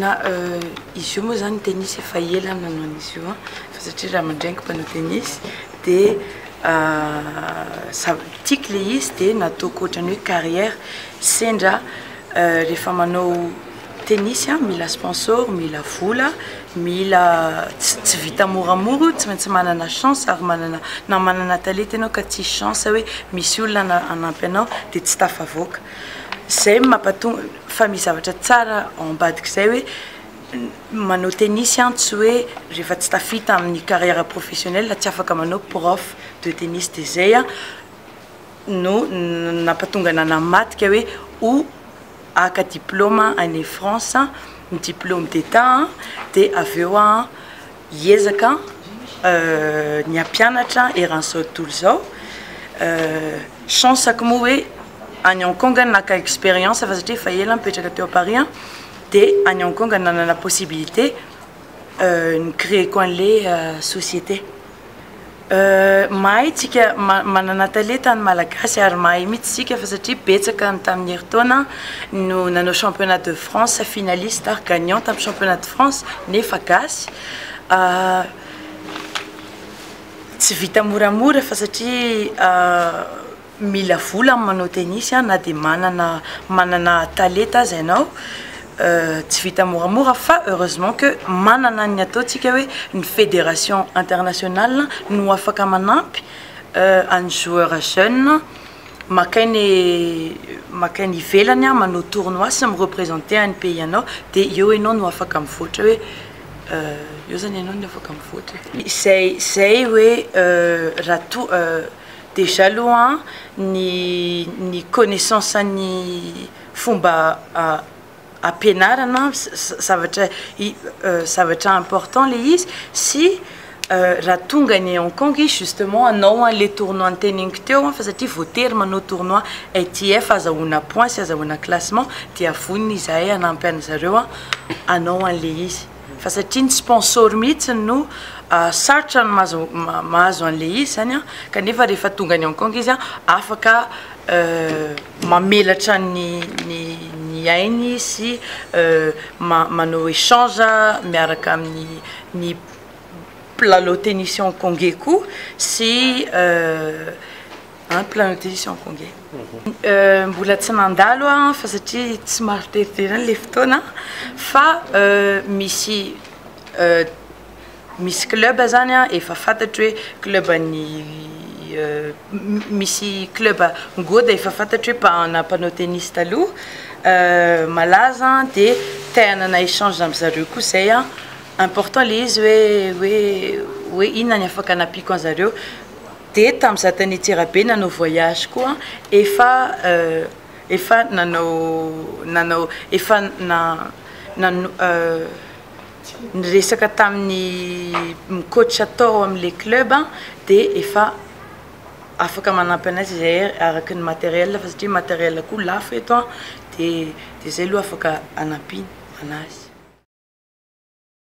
Na izy io moa zany tennis efa ela aho nanao an'izy io an, fa satria ray aman-dreniko mpanao tennis dia sa- tiako le izy dia nataoko ohatran'ny hoe carrière, sendra rehefa manao tennis an mila sponsor, mila vola, mila ts- tsy vita moramora io, tsy maintsy manana chance ary manana na manana talenta ianao ka tsisy chance hoe misy olona hana- hanampy anao dia tsy tafavoaka. Izay mampatonga fa misy zavatra tsara ao ambadik'izay hoe manao tennis an tsy hoe rehefa tsy tafita amin'ny carrière professionnelle tsy afaka manao prof de tennis dia izay an no nampatonga nanamadika hoe ho haka diplôma any France ny diplôme d'état dia avy eo an Hiezaka ny hampianatra eran'izao tontolo izao. Chance-ko moa hoe any Hong Kong naka expérience fa satria efa ela aho nipetraka teo à Paris dia any Hong Kong nanana possibilité ni-créer-ko an'ilay société. Mahay tsika manana talenta ny malagasy ary mahay mitsy tsika fa satria betsaka ny tamin'ny herintaona no nanao championnat de France finaliste ary gagnant tamin'ny championnat de France nefa gasy tsy vita moramora fa satria mila vola amin'ny manao tennis a, na dia manana manana talenta aza ianao, tsy vita moramora fa heureusement que manana ny ataontsika hoe ny federation internationale no afaka manampy an'ny joueur jeune maka ainy maka ainy ivelany manao tournoi sy mi-representer an'ny pays anao dia eo ianao no afaka mivoatra hoe eo zany ianao no afaka mivoatra e. Izay izay hoe raha toa Déjà aloha ny ny connaissance an'ny fomba ampianarana zavatra zavatra important le izy sy raha tonga any Hong Kong izy justement hanao an'le tournoi noteneniko teo fa satria voatery manao tournoi ITF azahoana points sy azahoana classement dia vonona izahay hanampy an'zareo hanao an'le izy. fa satria ny sponsor mihitsy no sarotra ny mahazo an'ilay izy izany kanefa rehefa tonga any Hong Kong izy afaka mamelatra ny ny ainy sy manao échange miaraka amin'ny mpilalao tennis Hong Kongey koa sy An plan de mission ko nge mbola tsy mandalo an fa satria tsy maro tery any le fotoana fa misy misy club zany an efa fantatro hoe club an'ny misy club ngoda efa fantatro hoe mpanao mpanao tennis taloha malaza de te hanana echange am zareo koa zay an important le izy hoe hoe hoe inona ny afaka anampiako anzareo dia tam za tany antsirabe nanao voyage koa efa efa nanao nanao efa niresaka tamin'ny mi coach tao amle club de efa afaka manampy anay zay araka ny materiel fa satria materiel koa lafo eto an de de zay aloha afaka anampiana anazy